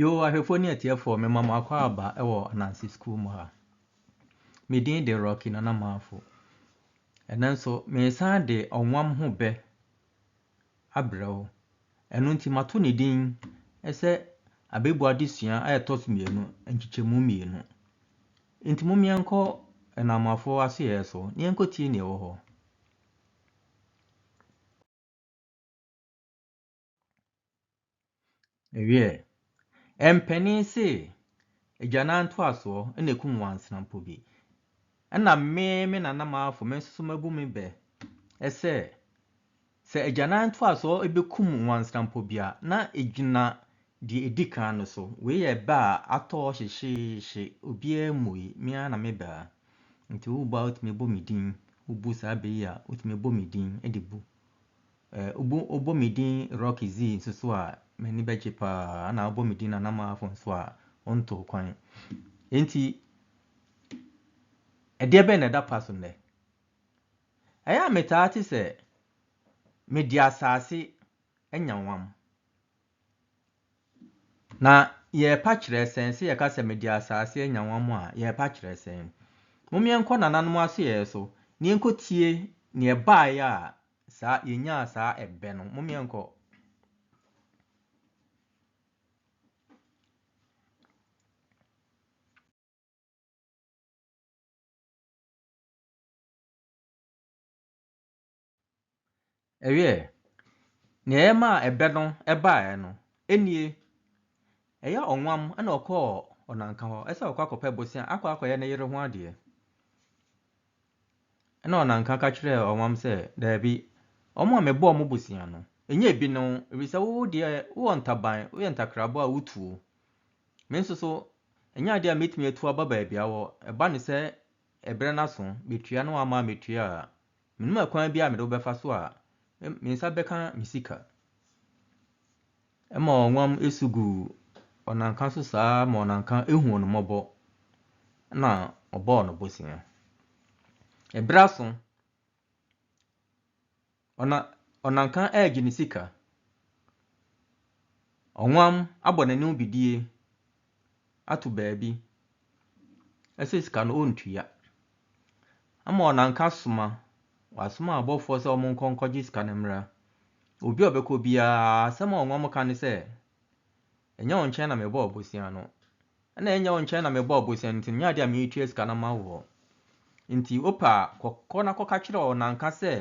Yoo ahwɛfoɔ ne atiefoɔ mema mo akwaaba wɔ Ananse sukuu mu ha. Me din de Rocky Nana Marfo. Ɛnɛ nso meresan de ɔnwam ho bɛ abrɛ wo. Ɛno nti mato ne din sɛ abɛbu adesua a ɛtɔ so mmienu, nkyekyɛmu mmienu. Nti mom yɛnkɔ anamoafoɔ asoyɛɛ so na yɛnkɔtie nea ɛwɔ hɔ. Wiɛ, mpanin se agyanan ntoasoɔ na ɛkum wansenampo bi. Ɛna me, me nana mafo me nso mabu me bɛ sɛ, sɛ agyanan ntoasoɔ bɛkum wansenampo bi a, na ɛgyina Deɛ ɛdi kan no so, wei yɛ ɛbɛ a atɔ hyehyeehye, obiara mmui, me ara na mebɛ a. Nti wobu a wotumi bɔ me din, wobu saa bɛ yi a wotumi bɔ me din de bu. Ɛɛ wobu wobɔ me din Rocky Zee nso so a, m'ani bɛgye pa ara, ɛna wobɔ me din Nana Marfo nso a, wontoo kwan. Enti, ɛdeɛ bɛn na ɛda pa so nnɛ? Ɛyɛ a metaa te sɛ mede asase anya wam. Na yɛrepa kyerɛ sɛn? Sɛ yɛka sɛ mede asase anya wɔn a, yɛrepa kyerɛ sɛn? Mom yɛnkɔ nananom asoɛeɛ so, na yɛnkɔtie deɛ ɛbaeɛ a saa yɛnyaa saa ɛbɛ no. Mom yɛnkɔ. Ɛwiee, nea ɛyɛ maa ɛbɛ no baeɛ no, ɛnnie, ɛyɛ ɔnwam na ɔkɔɔ ɔnanka hɔ sɛ ɔkɔ akɔpɛ bosea akɔ akɔyɛ ne yere ho adeɛ. Ɛna ɔnanka ka kyerɛɛ ɔnwam sɛ, daabi, wɔn a mebɔɔ mo bosea no, ɛnyɛ ebi ne wo, ɛfiri sɛ wo deɛ wowɔ ntaban, woyɛ ntakraboa a wotuo. Me nso so, ɛnyɛ adeɛ a mɛtumi atu aba baabi a wɔ, ɛba ne sɛ ɛberɛ no aso, bɛtua na wamma a mɛtua a, Menim ɛkwan biara a mede wo bɛfa so a me nsa bɛka me sika. Ɛma ɔnwam su gu ɔnanka so saa ma ɔnanka huu no mmɔbɔ na ɔbɔɔ no bosea. Ɛberɛ aso, ɔna, ɔnanka regye ne sika. Ɔnwam abɔ n'anim bidie ato baabi sɛ sika no ɔntua. Ama wɔn anka soma, wɔasoma abɔfoɔ sɛ wɔnkɔ nkɔgye sika no mmra. Obi a ɔbɛkɔ biara asɛm a ɔma wɔka ne sɛ, ɛnyɛ wo nkyɛn na mebɔɔ bosea no. Ɛna ɛnyɛ wo nkyɛn na mebɔɔ bosea no nti menyɛ adeɛ a meretua sika no ama woɔ. Nti wopɛ a kɔ na kɔka kyerɛ wɔn anka sɛ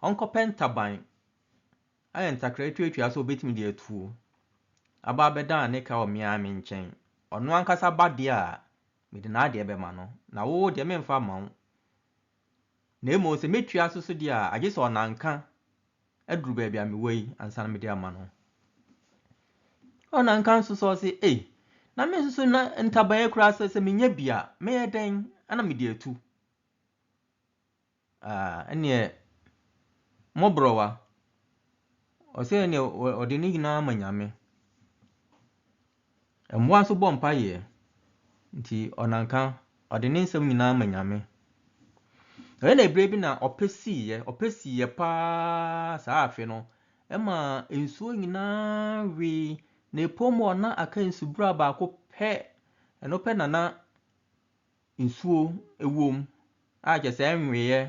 ɔnkɔpɛ ntaban. Ayɛ ntakra tuatua sɛ obetumi de atuo aba abɛda ne ka wɔ me ara me nkyɛn. Ɔno ankasa ba deɛ a, mede n'adeɛ bɛma no, na wo deɛ, meremfa mma wo. Na mmom sɛ metua so so deɛ a, agye sɛ ɔnanka aduru baabi a mewɔ yi ansa na mede ama no. Ɔnanka nso sɛ ɔse, ei, na me nso so na ntaban yi koraa sɛ sɛ menya bi a, mɛyɛ dɛn na mede atu? Ah, ɛnneɛ mmɔborɔwa. Ɔsɛ ɛnneɛ ɔ- ɔde ne nyinaa ma Nyame. Mmoa nso bɔ mpaeɛ, nti ɔnanka ɔde ne nsɛm nyinaa ma Nyame. Ɛyɛ na ebire bi na ɔpɛ siiɛ, ɔpɛ siiɛ paa saa afe no, ɛma nsuo nyinaa wee na epom hɔ na aka nsubura baako pɛ, ɛno pɛ na na nsuo wɔ mu a kyerɛ sɛ ɛnweeɛ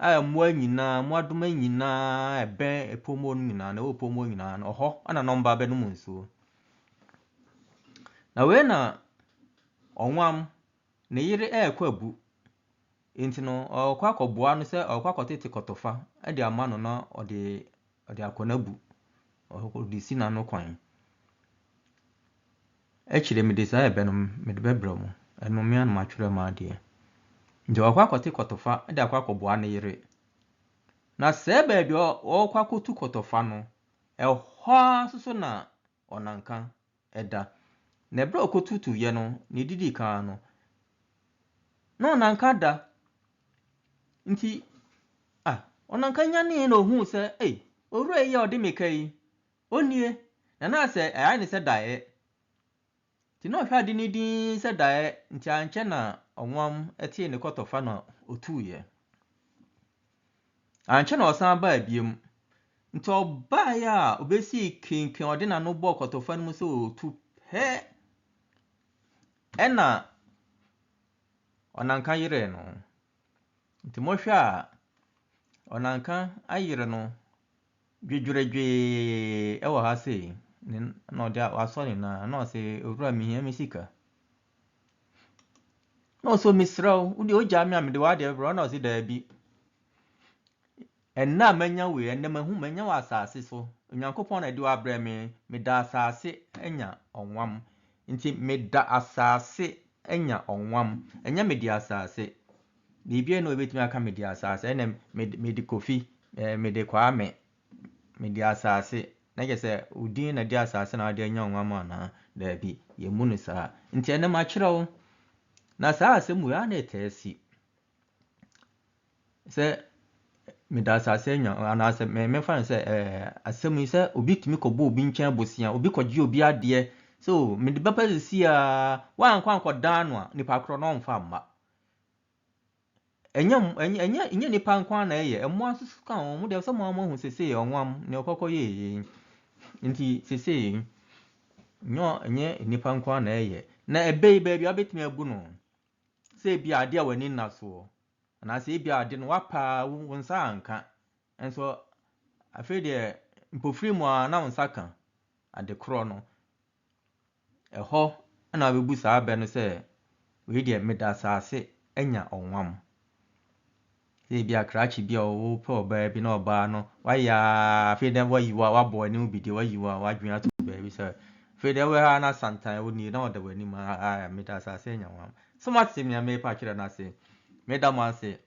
a mmoa nyinaa, mmoadoma nyinaa a ɛbɛn epom hɔ no nyinaa, na ɛwɔ epom hɔ nyinaa no, ɔhɔ na na wɔba abɛnom nsuo. Na wei na ɔwam, ne yere rekɔ abu, nti no ɔrekɔ akɔboa no sɛ ɔrekɔ akɔtete kɔtɔfa de ama no na ɔde Ɔde akɔ n'abu, ɔde si n'ano kwan. Akyire mede saa ɛbɛ no mede bɛbrɛ mo, ɛno me ara na matwerɛ m'adeɛ. Nti ɔkɔ akɔte kɔtɔfa de akɔ akɔboa ne yere. Na sɛɛ baabi a ɔkɔ akɔtu kɔtɔfa no, ɛhɔ ara nso so na ɔnanka da. Na ɛberɛ a ɔkɔtutuiɛ no, na ɛdidi kan no, na ɔnanka da. Nti, ah, ɔnanka nyanee na ɔhuu sɛ, ei, owura yi a ɔde me ka yi, ɔnnie, na na sɛ ɛyɛ ne sɛ daeɛ. Nti na ɔhwɛ ade no dinn sɛ daeɛ, nti ankyɛ na ɔwam tee ne kɔtɔfa na ɔtuiɛ. Ankyɛ na ɔsan baa biom. Nti ɔbaeɛ a ɔbɛsii kenken ɔde n'ano bɔɔ kɔtɔfa no mu sɛ ɔtu pɛ ɛna ɔnanka yerɛɛ no. Nti mohwɛ a ɔnanka ayere no Dwedweredwee wɔ ha sei, ne na ɔde a wasɔ ne nan na ɔse owura mehia me sika. Na ɔse o mesrɛ wo, wo deɛ wogyaa me a mede w'adeɛ bɛbrɛ wo na ɔse daabi. Ɛnnɛ a manya wei, ɛnnɛ mahu manya wɔ asase so. Onyankopɔn na ɛde wo abrɛ me, meda asase anya ɔnwam. Nti meda asase anya ɔnwam, ɛnyɛ mede asase. Biribiara nni hɔ a ɛbɛtumi aka me di asaase. Ɛnna mede Kofi, mede Kwame, mede asaase. Na kyerɛ sɛ wo din na ɛde asaase na wode anya nwa mu anaa? Daabi, yɛmmu no saa. Nti ɛnnɛ makyerɛ wo. Na saa asɛm wei a na ɛtaa si sɛ mede asaase anya anaasɛ mefa no sɛ asɛm yi sɛ obi tumi kɔbɔ obi nkyɛn bosea, obi kɔgye obi adeɛ sɛ o mede bɛpa sisi a woankɔ ankɔdan no a nipa korɔ no ɔmfa mma. Ɛnyɛ mmo ɛnyɛ ɛnyɛ ɛnyɛ nnipa nko ara na ɛyɛ, mmoa nso ka ho. Wɔn deɛ sɛ mo ara moahu seesei ɔwam deɛ ɔkɔkɔ yɛɛ yei. Nti seesei yi, ɛnyɛ ɔ ɛnyɛ nnipa nko ara na ɛyɛ. Na ɛbɛ yi baabi a wobɛtumi agu no, sɛ ebi a adeɛ a w'ani nna soɔ, anaasɛ ebi a ade no woapa ara wo wo nsa anka. Nso afei deɛ, mpofirim ara na wo nsa ka adekorɔ no. Ɛhɔ na wɔbɛbu saa bɛ no sɛ, Wei deɛ, meda asase anya ɔwam. Sɛ ebi a krakye bi a wopɛ ɔbaa bi na ɔbaa no wayɛ ara afei dɛ wayi wo wabɔ w'anim bi deɛ wayi wo a w'adwene ato baabi sɛ afei dɛ wɔ ha na santan wo nie na ɔda w'anim a meda asase anya ɔwam. So moate nea merepa akyerɛ no ase? Meda mo ase.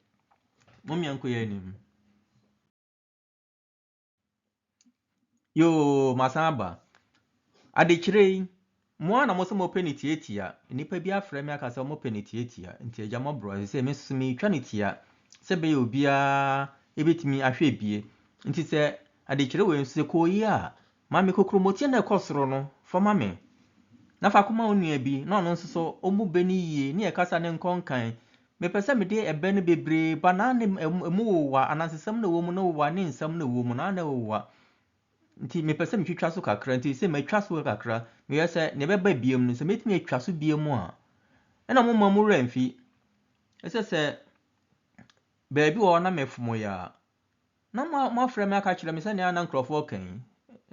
Mommeɛnkɔ yɛn anim. Yoo masan aba. Adekyerɛ yi, mo a na mo sɛ mopɛ no tiatia, nnipa bi afrɛ me aka sɛ wɔpɛ no tiatia, nti agya mmɔborɔ, ɛsɛ sɛ me nso metwa no tia sɛ ɛbɛyɛ obiara bɛtumi ahwɛ bie. Nti sɛ adekyerɛ wei nso sɛ kɔyi a, ma me kokuromoti na ɛkɔ soro no fa ma me, na fa kɔma wo nua bi na ɔno nso so ɔmu bɛ no yie ne yɛkasa ne nkɔ nkan Mepɛ sɛ mede ɛbɛ no bebree ba na ne ɛmu wowa, anansesɛm na ɛwɔ mu na wowa ne nsɛm na ɛwɔ mu na na ɛwowa. Nti mepɛ sɛ metwitwa so kakra, nti sɛ matwa so kakra, meyɛ sɛ ne ɛbɛba biam no, sɛ mɛtumi atwa so biam a, ɛna mo mma mo werɛ mfi. Ɛsɛ sɛ baabi wɔ hɔ na mefom yɛ a, Na moafrɛ me aka akyerɛ me sɛ nea na nkurɔfoɔ reka yi,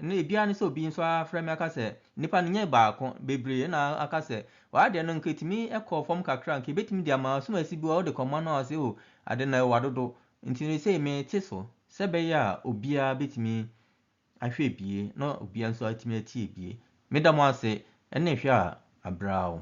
na ebiara ne sɛ obi nso afrɛ me aka sɛ, Nnipa no nyɛ baako, bebree, na aka sɛ, Wɔ ha deɛ no anka etumi kɔ fam kakra, anka ebetumi de ama ɔsomasi bi a ɔde kɔma no a ɔse, O, ade no ɛwa dodo, nti no sei mete so sɛ ɛbɛyɛ a obiara betumi ahwɛ bie na obiara nso atumi atie bie. Meda mo ase ne hwɛ a abrao.